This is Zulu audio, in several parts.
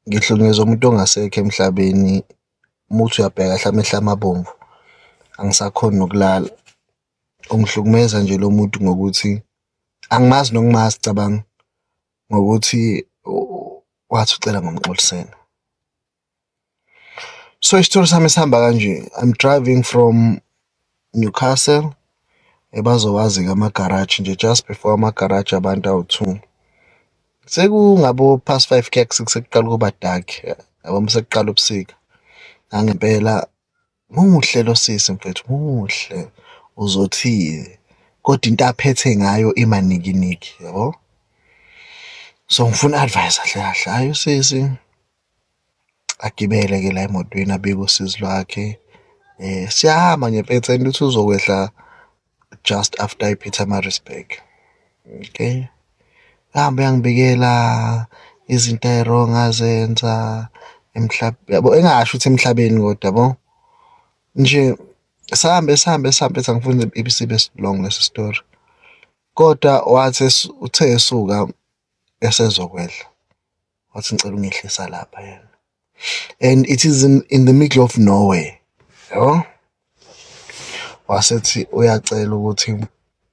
ngihlukumezwa umuntu ongasekho emhlabeni uma uthi uyabheka hlampe amehlo ami abomvu angisakhoni nokulala. Ungihlukumeza nje lo muntu ngokuthi angimazi nokumazi cabanga ngokuthi wathi ucela ngomxolisela. so isithole sami sihamba kanje i'm driving from newcastle ebazowazi-ke amagaraji nje just before amagaraji abantu awu-two sekungabo-past five keks sekuqala ukuba dark yabo uma sekuqala ubusika nangempela Muhle lo sisi mfethu muhle uzothile kodwa into aphethe ngayo imanikiniki yabo. So ngifuna advice kahle kahle hayi usisi agibele ke la emotweni abike usizi lwakhe um siyahamba ngempetha into ukuthi uzokwehla just after iPietermaritzburg okay ahambe yangibikela izinto eziwrong azenza emhlabeni yabo engasho ukuthi emhlabeni kodwa yabo nje sihambe sihambe sihambe sangifuna ibisibe long lesi story kodwa wathi uthe esuka esezokwedla wathi ngicela ungehlisa lapha yena and it is in, in the middle of nowhere yabo wasethi uyacela ukuthi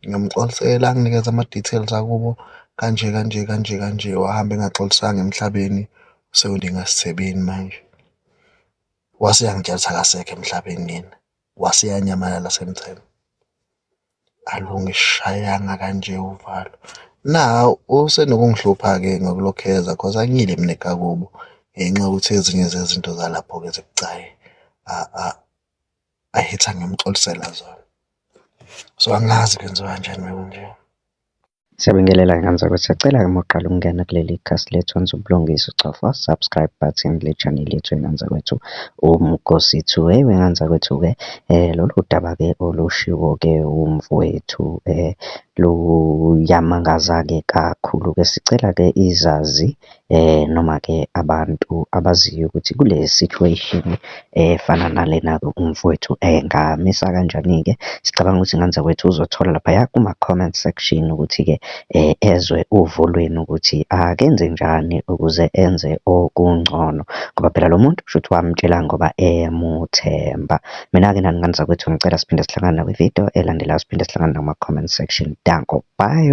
ngiyomxolisela anginikeze ama-details akubo kanje kanje kanje kanje wahamba engaxolisanga emhlabeni usewuninga sithebeni manje wase yangitshelisa akasekho emhlabeni yena wase yanyamalala semthemba Alu ungishayanga kanje uvalo. Nawu usenokungihlupha-ke ngokulokhu eza cause angiyile mina ekakubo ngenxa yokuthi ezinye zezinto zalapho-ke zibucayi ayithi angimxolisela zona. So angazi kwenziwa kanjani uma kunje. Siyabingelela nkanzalo siyacela uma uqala ukungena kuleli khasi lethu wenza ubulungiswa ucofa subscribe button kule channel yethu enkanzakwethu uMgosi two hey wenkanzakwethu-ke lolu daba-ke olushiwo-ke umfowethu luyamangaza-ke kakhulu-ke sicela-ke izazi Noma-ke abantu abaziyo ukuthi kule situation efana nalena umfowethu engamisa kanjani-ke. Sicabanga ukuthi ngane zakwethu uzothola laphaya kuma-comment section ukuthi-ke ezwe uvo lwenu ukuthi akenze njani ukuze enze okungcono, ngoba phela lo muntu kushuthi wamtshela ngoba emuthemba. Mina-ke nani ngane zakwethu ngicela siphinde sihlangane nakwi-video elandelayo, siphinde sihlangane nakuma-comment section. Danko, bye.